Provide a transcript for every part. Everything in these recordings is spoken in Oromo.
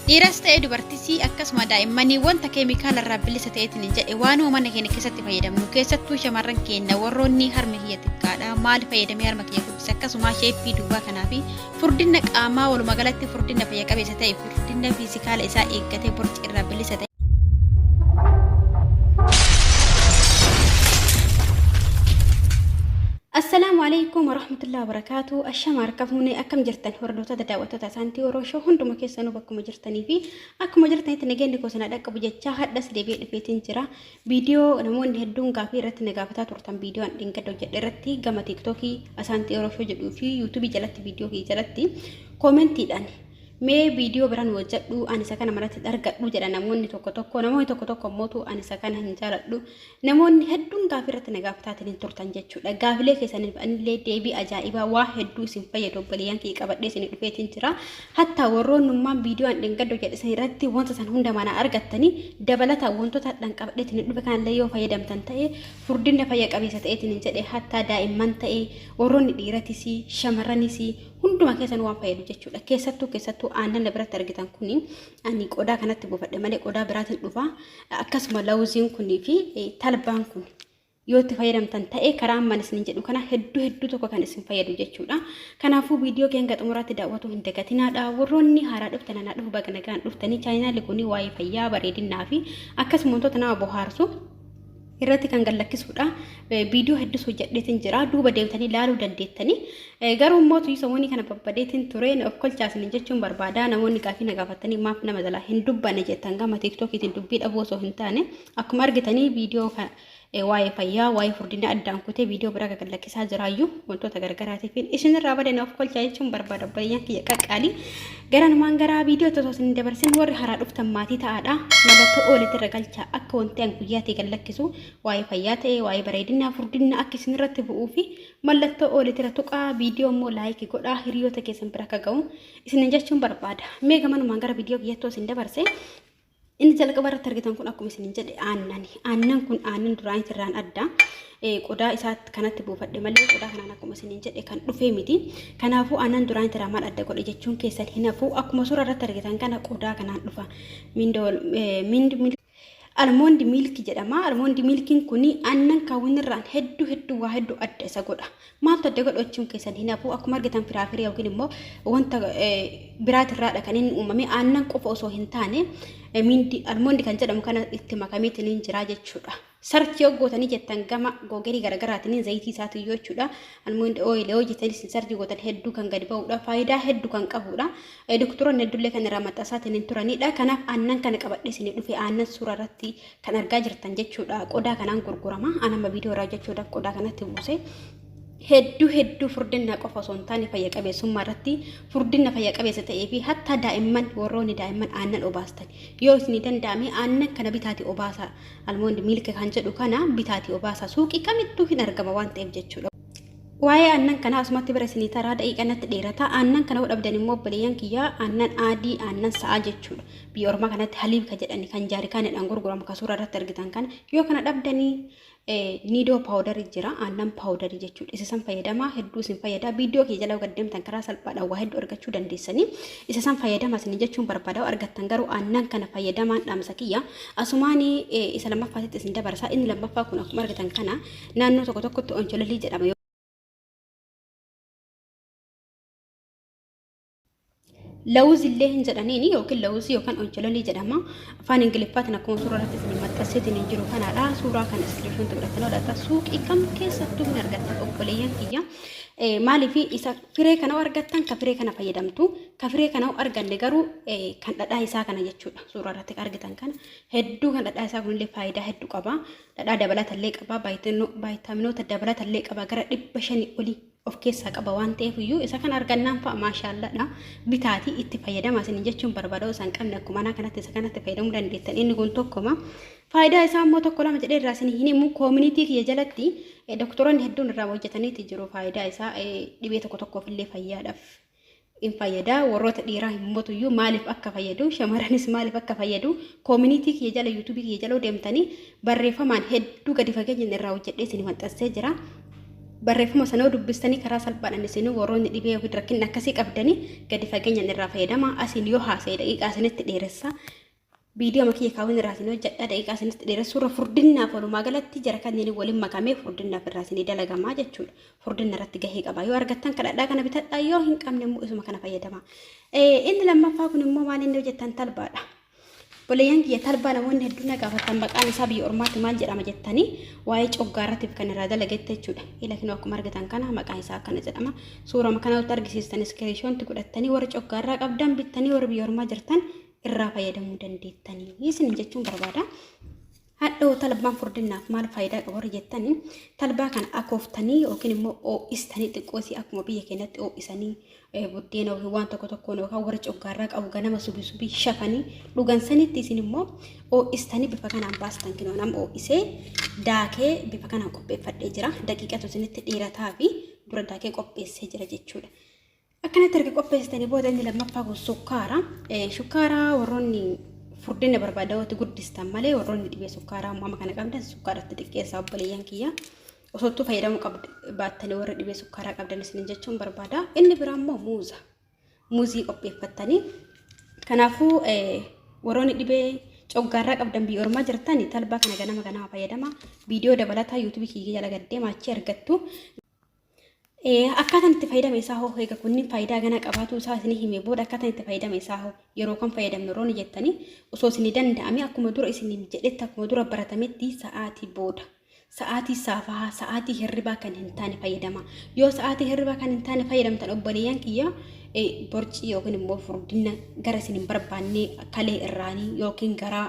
Dhiiras ta'ee dubartisi akkasuma daa'immanii wanta keemikaala irraa bilisa ta'eetiin hin jedhe waanuma mana keenya keessatti fayyadamnu keessattuu shamarran keenya warroonni harmi kiyya xiqqaadha maal fayyadamee harma kiyya guddise akkasuma sheeppii duubaa kanaa fi furdina qaamaa walumaa galatti furdina fayya qabeessa ta'e furdina fiizikaala isaa eeggatee borci irraa bilisa ta'e. Assalaamu alaikum warahmatullahi wabarakatuh. Ashama harka fuunee akkam jirtan hordoftoota daawwattoota. Hordoftoota Saantii Oroo Show hunduma keessanuu bakkuma jirtanii fi akkuma jirtanitti nageenyi koo sana dhaqqabu jechaa hadhas deebi'ee dhufeetiin jira. Viidiyoo namoonni hedduun gaafii irratti na gaafataa turtan viidiyoo an dhingada hojjedhe irratti gama tiiktookii Asaantii Oroo Show jedhuu fi yuutuubii jalatti viidiyoo kee jalatti koomentiidhaan mee viidiyoo biraan hojjedhu ani isa kana manatti argadhu jedha namoonni tokko tokko namoonni tokko tokko immoo ani isa kana hin jaaladhu Namoonni hedduun gaafii irratti na gaafataatiin hin turtan jechuudha. Gaafilee keessaniif anillee deebii ajaa'ibaa waa hedduu isin fayyadu obboleeyyan kiyya qabadhee isin dhufeetiin jira. Hattaa warroonnummaan viidiyoo an dhengaddo jedhisan irratti wanta san hunda manaa argattanii dabalata wantoota hadhaan qabadheetiin hin dhufe kanallee yoo fayyadamtan ta'e furdinna fayya qabeessa ta'eetiin hin jedhe hattaa daa'imman ta'e warroonni dhiiratis shamarranis hunduma keessan waan fayyadu jechuudha. Keessattuu keessattuu aannan na biratti argitan kun ani qodaa kanatti buufadhe malee qodaa biraatiin dhufa akkasuma lawuziin kunii fi talbaan kun yoo itti fayyadamtan ta'e karaa amman isin jedhu kana hedduu hedduu tokko kan isin fayyadu jechuudha. Kanaafuu viidiyoo keenya xumuraatti daawwatuu hin dagatinaadha. Warroonni haaraa dhuftan anaa dhufu baga nagaan dhuftanii chaayinaali kun waa'ee fayyaa bareedinaa fi akkasuma wantoota nama bohaarsu irratti kan gallakkisuudha. Viidiyoo hedduus hojjedheetiin jira. Duuba deebitanii ilaaluu dandeettanii. Garuu immoo tuyii samoonii kana babbadeetiin ture of kolchaasanii jechuun barbaada. Namoonni gaafii na gaafatanii maaf nama jalaa hin dubbanne jettan gama tiiktookiitiin dubbii dhabuu osoo hin taane akkuma argitanii viidiyoo waa'ee fayyaa waa'ee furdina addaan kutee viidiyoo biraa gagallakkisaa jiraayyuu wantoota gargaraatiifiin isinirraa badee na of kolchaa jechuun barbaada obboleeyyan kiyya qaqqaalii. Garanumaan gara viidiyootti osoo isin dabarsin warri haaraa dhuftan maatii ta'aadha. Mallattoo ooletti irra galcha akka wanti an guyyaatti gad lakkisu waa'ee fayyaa ta'e waa'ee bareedinaa furdinna akka isin irratti bu'uu fi mallattoo ooletti irra tuqaa viidiyoo immoo laayikii godhaa hiriyoota keessan bira akka ga'u isin jechuun barbaada. Mee gamanumaan gara viidiyoo kiyyatti osoo isin dabarse Inni jalqaba irratti argitan kun akkuma isiniin jedhe aannani. Aannan kun aannan duraanii irraan adda. Qodaa isaa kanatti buufadhe malee qodaa kanaan akkuma isiniin jedhe kan dhufee miti. Kanaafuu aannan duraanii irraa maal adda godhe jechuun keessan hin hafu. Akkuma suuraa irratti argitan kana qodaa kanaan dhufa. Almoondi miilki jedhama. Almoondi miilkiin kun aannan kaawwin irraan hedduu hedduu waa hedduu adda isa godha. Maaltu adda godhu achuun keessan hin hafu akkuma argitan firaafirii yookiin immoo wanta biraatirraadha kan inni uumame aannan qofa osoo hin taane miindi almoondi kan jedhamu kana itti makameetiin hin jira jechuudha. Sarchi yoo gootanii jettan gama googerii garaagaraatiin zayitii isaatu iyyuu jechuudha. Almoondi ooyil yoo jettanis hin sarchi gootan hedduu kan gadi ba'uudha. Faayidaa hedduu kan qabuudha. Doktoronni hedduullee kan irraa maxxansaatiin hin turanidha. Kanaaf aannan kana qabadhee isin dhufe aannan suuraa irratti kan argaa jirtan jechuudha qodaa kanaan gurgurama anama viidiyoo irraa jechuudhaaf qodaa kanatti buuse hedduu hedduu furdinna qofa osoo hin taane fayya qabeessummaa irratti furdinna fayya qabeessa ta'ee fi hattaa daa'imman warroonni daa'imman aannan obaastan yoo isinii danda'ame aannan kana bitaati obaasaa almoondi miilka kan jedhu kana bitaati obaasaa suuqii kamittuu hin argama waan ta'eef jechuudha. Waa'ee aannan kanaa asumatti bira isinii taraa daqiiqa natti dheerata. Aannan kana yoo dhabdan immoo obboleeyyan kiyyaa aannan aadii aannan sa'aa jechuudha. Biyya ormaa kanatti haliib ka jedhani kan jaarikaanidhaan gurguramu ka suuraa irratti argitan kana yoo kana dhabdanii niidoo paawudarii jira aannan paawudarii jechuudha. Isa san fayyadamaa hedduu isin fayyada. Viidiyoo kiyya jala gaddeemtan karaa salphaadhaan waa hedduu argachuu dandeessanii. Isa san fayyadama isin jechuun barbaada yoo argattan garuu aannan kana fayyadamaan dhaamsa kiyya. Asumaanii isa lammaffaatitti isin dabarsa. Inni lammaffaa kun akkuma argitan kana Naannoo tokko tokkotti onchololii jedhama. Lawuz illee hin jedhaniin yookiin lawuzii yookaan onchololii jedhama. Afaan Ingiliffaatiin akkuma suuraa irratti isin maxxanseetiin hin jiru kanaadha. Suuraa kana iskiriishoon godhattanii hodhata. Suuqii kam keessattuu hin argattan obboleeyyan kiyya. Maaliif isa firee kana argattan ka firee kana fayyadamtu ka firee kana arganne garuu kan dhadhaa isaa kana jechuudha. Suuraa irratti argitan kana hedduu kan dhadhaa isaa kunillee faayidaa hedduu qaba. Dhadhaa dabalata illee qaba, vaayitaaminoota dabalata illee qaba gara dhibba shanii olii of keessaa qaba waan ta'eef iyyuu isa kana argannaan fa'a maashaalladha bitaatii itti fayyadama isin jechuun barbaada osoo hin qabne akkuma anaa kanatti isa kanatti fayyadamuu dandeettan inni kun tokkoma. Faayidaa isaa immoo tokko lama jedhee irraa isin hin himu koominiitii kiyya jalatti doktoroonni hedduun irraa hojjetaniiti jiru faayidaa isaa dhibee tokko tokkoof illee fayyaadhaaf. in fayyada warroota dhiiraa hin motuyyuu maaliif akka fayyadu shamaranis maaliif akka fayyadu koominiitii kiyya jala yuutuubii kiyya jala deemtanii barreeffamaan hedduu gadi fageenyaan irraa hojjedhee isin maxxansee jira. Barreeffama sanoo dubbistanii karaa salphaadhaan isin warroonni dhibee yookiin rakkinni akkasii qabdanii gadi fageenyaan irraa fayyadama asiin yoo haasa'e daqiiqaa isinitti dheeressa. Viidiyoo makiyya kaawwan irraatiin hojjedha daqiiqaa isinitti dheeressuurra furdinnaaf walumaa galatti jara kanneen waliin makamee furdinnaaf irraa isinii dalagamaa jechuudha. Furdinna irratti gahee qaba. Yoo argattan kadhadhaa kana bitadhaa yoo hin qabne immoo isuma kana fayyadama. Inni lammaffaa kun immoo maal inni hojjettan talbaadha. Boleeyyan kiyya talbaa namoonni hedduun na gaafatan maqaan isaa biyya ormaatti maal jedhama jettanii waa'ee coggaarratiif kan irraa dalagetti jechuudha. Ila kinoo akkuma argitan kana maqaan isaa akkana jedhama. Suurama kana irratti argisiistan iskiriishoonti godhattanii warri coggaarraa qabdan bittanii warri biyya ormaa jirtan irraa fayyadamuu dandeettanii isin jechuun barbaada. Hadhoo talbaan furdinnaaf maal faayidaa qaba warri jettanii talbaa kana akooftanii yookiin immoo oo'istanii xiqqoosii akkuma biyya keenyatti oo'isanii buddeena yookiin waan tokko tokkoon yookaan warri coggaarraa qabu ganama subi subii shafanii dhugan sanitti isin immoo oo'istanii bifa kanaan baastan kinoo nam oo'isee daakee bifa kanaan qopheeffadhee jira daqiiqatu isinitti dheerataa fi dura daakee qopheessee jira jechuudha. Akkanatti erga qopheessitanii booda inni lammaffaa kun sukkaara. Sukkaara warroonni furdina barbaadawootti guddistan malee warroonni dhibee sukkaaraa amma kana qabdan sukkaaratti xiqqeessaa obboleeyyan kiyya. Osoottuu fayyadamuu baattanii warra dhibee sukkaaraa qabdan isinin jechuun barbaada. Inni biraa immoo muuza. Muuzii qopheeffattanii. Kanaafuu warroonni dhibee coggaarraa qabdan biyya ormaa jirtan talbaa kana ganama ganama fayyadama. Viidiyoo dabalataa yuutuubii kiyya jala gaddeema achi argattu. Akkaataan itti fayyadama isaa hoo eega kunniin faayidaa ganaa qabaatuu isaa isinii himee booda akkaataan itti fayyadama isaa hoo yeroo kan fayyadamnu yeroo ni jettanii osoo isinii danda'ame akkuma dura isinii jedhetti akkuma dura baratametti sa'aatii booda sa'aatii saafahaa sa'aatii hirribaa kan hin taane fayyadama yoo sa'aatii hirribaa kan hin taane fayyadamtan obboleeyyan kiyya borcii yookiin immoo furdina gara isin hin barbaanne kalee irraanii yookiin garaa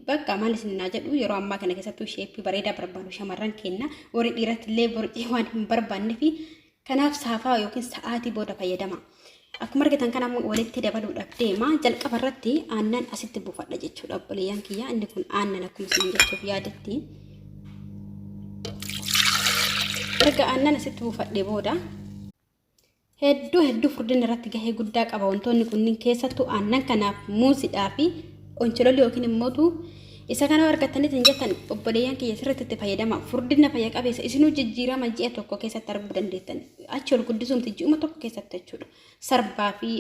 Bakka maal isin naa jedhu yeroo ammaa kana keessattuu sheeppii bareedaa barbaadu shamarran kenna warri dhiiratti illee borcii waan hin barbaanne fi kanaaf saafaa yookiin sa'aatii booda fayyadama. Akkuma argitan kana ammoo walitti dabaluudhaaf deema. Jalqaba irratti aannan asitti buufadha jechuudha obboleeyyan kiyya. Inni kun aannan akkuma isin jechuuf yaadetti. Erga aannan asitti buufadhe booda Hedduu hedduu furdina irratti gahee guddaa qaba wantoonni kunniin keessattuu aannan kanaaf muusidhaa fi onchololii yookiin immootu isa kana argattanitti hin jettan obboleeyyan kiyya sirriitti itti fayyadama furdina fayya qabeessa isinuu jijjiirama ji'a tokko keessatti arguu dandeettan achi ol guddisuumti ji'uma tokko keessatti jechuudha sarbaa fi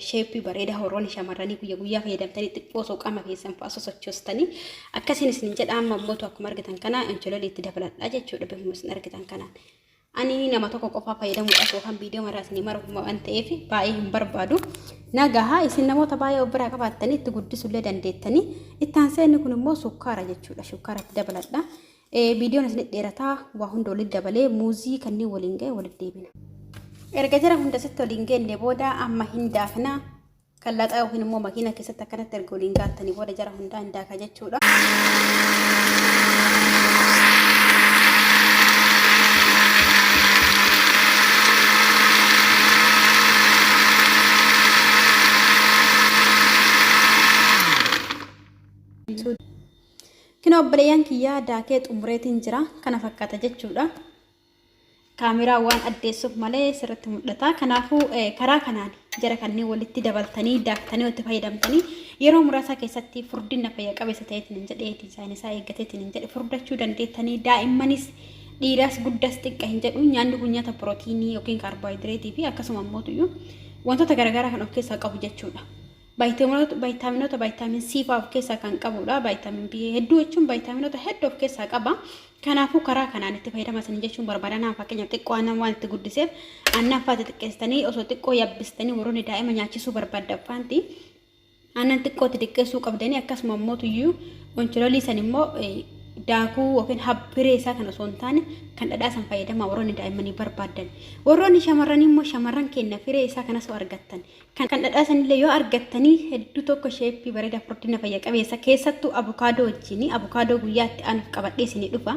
sheeppii bareeda horoonni shamarranii guyya guyyaa fayyadamtanii xiqqoo osoo qaama keessan fa'a sosochoostanii akkasiin isin jedha amma immootu akkuma argitan kana onchololii itti dabaladhaa jechuudha bifuma isin argitan kanaan. ani nama tokko qofaa fayyadamuudhaaf yookaan viidiyoo maraa isin mara waan ta'eef baay'ee hin barbaadu. Nagaha isin namoota baay'ee of biraa qabaattanii itti guddisullee dandeettanii itti aansee inni kun immoo sukkaara jechuudha. Sukkaara itti dabaladha. Viidiyoon isin dheerataa waa hunda walitti dabalee muuzii kanneen waliin ga'e walitti deebina. Erga jara hunda sitti waliin geenne booda amma hin daakna. Kan laxaa yookiin immoo makiina keessatti akkanatti erga waliin gaattanii booda jara hundaa hin daakaa jechuudha. Kina obboleeyyan kiyyaa daakee xumureetiin jira kana fakkaata jechuudha. kaameraa waan addeessuuf malee sirriitti mul'ata. Kanaafuu karaa kanaan jara kanneen walitti dabaltanii daaktanii walitti fayyadamtanii yeroo muraasaa keessatti furdina fayya qabeessa ta'eetiin hin jedheetiin saayinisaa eeggateetiin hin jedhe furdachuu dandeettanii daa'immanis dhiiraas guddas xiqqa hin jedhu nyaanni kun nyaata pirootiinii yookiin kaarboohayidireetii fi akkasuma immoo wantoota garaagaraa kan of keessaa qabu jechuudha. Vaayitaminoota Vaayitaaminoota Vaayitaamin C fa'aa of keessaa kan qabuudha. Vaayitaamin B hedduu jechuun vaayitaaminoota hedduu of keessaa qaba. Kanaafuu karaa kanaan itti fayyadama isanii jechuun barbaadan haa fakkeenyaaf xiqqoo aannan waan itti guddiseef aannan fa'aa xixiqqeessitanii osoo xiqqoo yabbistanii warroonni daa'ima nyaachisuu barbaaddan faanti aannan xiqqootti xiqqeessuu qabdanii akkasuma immoo tuyyuu onchilolii san immoo daakuu yookiin habbiree isaa kan osoo hin taane kan dhadhaa san fayyadamaa warroonni daa'immanii barbaadan. Warroonni shamarranii immoo shamarran keenya firee isaa kanas argattan. Kan kan dhadhaa sanillee yoo argattanii hedduu tokko sheeppii bareeda furdina fayya qabeessa keessattuu abukaadoo wajjini abukaadoo guyyaa itti aanuuf qabadhee isinii dhufa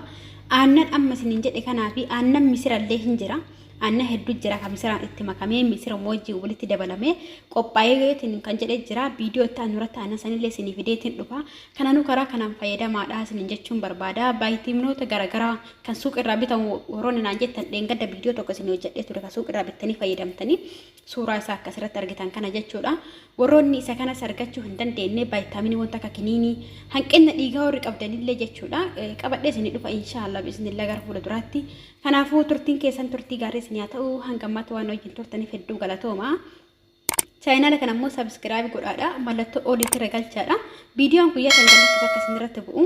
aannan amma isiniin jedhe kanaa fi aannan misirallee hin jira aannan hedduu jira kan misiraan itti makamee misira moojii walitti dabalamee qophaa'eetiin kan jedhe jira viidiyoo itti aanu irratti aannan sanillee isinii fideetiin dhufa kanaanuu karaa kanaan fayyadamaadha isiniin jechuun barbaada baayitiimnoota garaagaraa kan suuqirraa bitamu warroonni naan jettan dheengadda viidiyoo tokko isinii hojjedhee ture kan suuqirraa bittanii fayyadamtanii Suuraa isaa akka asirratti argitan kana jechuudha. Warroonni isa kanas argachuu hin dandeenye vaayitaaminii wanta akka kiniinii hanqinna dhiigaa warri qabdanillee jechuudha. Qabadhee isinii dhufa inshaallah biiznillah gara fuula duraatti. Kanaafuu turtiin keessan turtii gaarii isin haa ta'u hanga ammaatti waan wajjin turtaniif hedduu galatooma. Chaayinaala kana immoo sabiskiraabi godhaadha. Mallattoo oliitti irra galchaadha. Viidiyoon guyyaa kan gallakkisa akka isin irratti bu'u.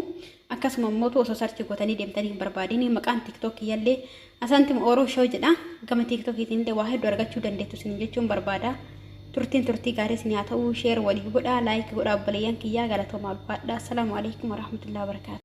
Akkasuma immoo osoo sarchi gootanii deemtanii hin barbaadin maqaan tiktookii yallee Asaantim Oro Show jedha. Gama TikTokiitiin illee waa hedduu argachuu dandeettu isiniin jechuun barbaada. Turtiin turtii gaarii isinii haa ta'u. Share waliif godhaa, like godhaa obboleeyyan kiyyaa galatoomaa ulfaadhaa. Assalaamu alaikum warahmatullahi wabarakaatu.